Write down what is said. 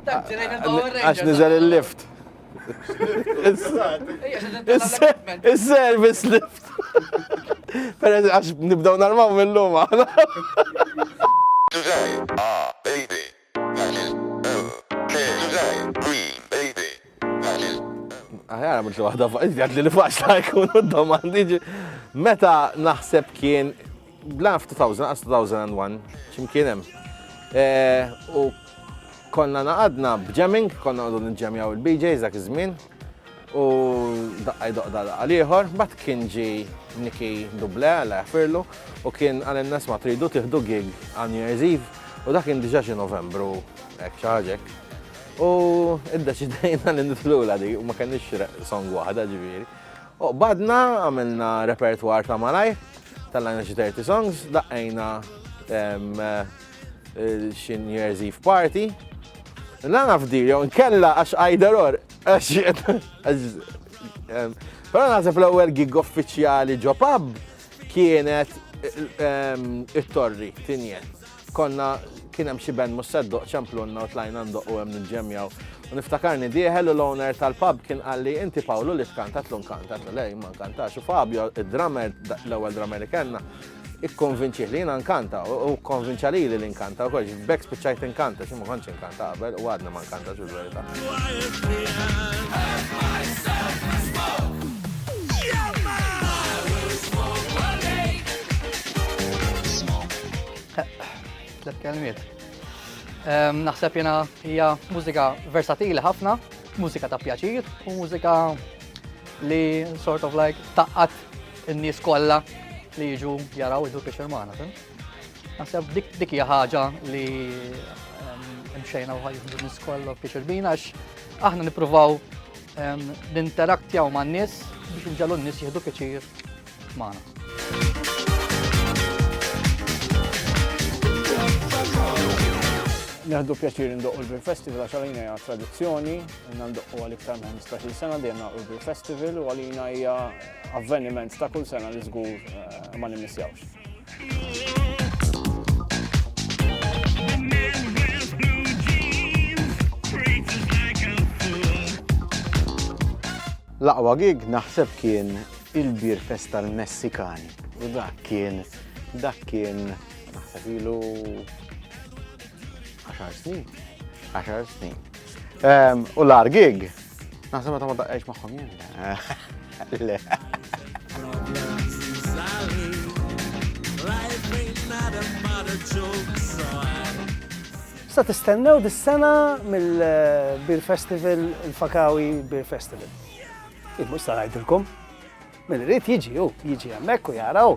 Għax nizel il-lift. Is-service lift. Per għax nibdaw narmaw mill-lum għana. Today, ah, baby, that is, oh, okay, today, green, baby. Aħjar mhux waħda faqgħet li faċ ta' jkunu domandi meta naħseb kien bla 2000 għas 2001 x'imkien hemm. Eh, u konna naqadna b'jamming, konna għadu nġemjaw il-BJs dak iż-żmien. U daqqaj doqda daqqa liħor, bat kien ġi Niki Duble, għalla jaffirlu, u kien għal nas ma tridu tiħdu gig għal New Year's Eve, u dak kien diġa xi Novembru, ek xaġek. U iddeċidejna li nitlula di, u ma kenniex song waħda ġifieri. U badna għamilna repertoire ta' malaj, tal-għajna xi 30 songs, daqqajna xi New Year's Eve party. La nafdi, jew nkella għax għajder or, Però naħseb l-ewwel gig uffiċjali ġo pub kienet it-torri tinjet. Konna, kien hemm xi band mhux se ddoqq ċemplunna u tlajna ndoqqu hemm ninġemjaw. U niftakarni dieħel u l-owner tal-pub kien qalli inti Pawlu li tkanta tlu nkanta għatlu le jien ma nkantax u Fabio id-drummer l-ewwel drummer li kellna ikkonvinċih li jiena nkanta u kkonvinċa lili li nkanta u kollox b'hekk spiċċajt inkanta xi ma kontx Kant ta' qabel u għadna ma nkantax il-verità. Tlet kelmiet. Ehm, naħseb jena hija mużika versatili ħafna, mużika ta' pjaċir u mużika li sort of like taqqat in-nies kollha li jiġu jaraw id-dukiex il-mana. Naħseb dik dik hija ħaġa li mxejna u ħajħdu nis kollu biex irbina għax aħna nippruvaw ninteraktjaw man nies biex nġallu n-nies jieħdu pjaċir magħna. Neħdu pjaċir ndoqqu l-Beer Festival għax għalina hija tradizzjoni, ndoqqu għal iktar minn 15 sena dejjem naqgħu l-Beer Festival u għalina hija avveniment ta' kull sena li żgur eh, ma nimmissjawx. L-aqwa gig naħseb kien il-bir festa l-Messikani. U dak kien, dak kien, naħseb ilu 10 snin. 10 snin. U l-ar gig, Naħseb meta ma daqqejx magħhom jien. Le. Sa tistennew dis-sena mill-Beer eh, Festival, il-Fakawi Beer Festival. Immu sa ngħidilkom, minn rrit jiġi u jiġi hemmhekk u jaraw.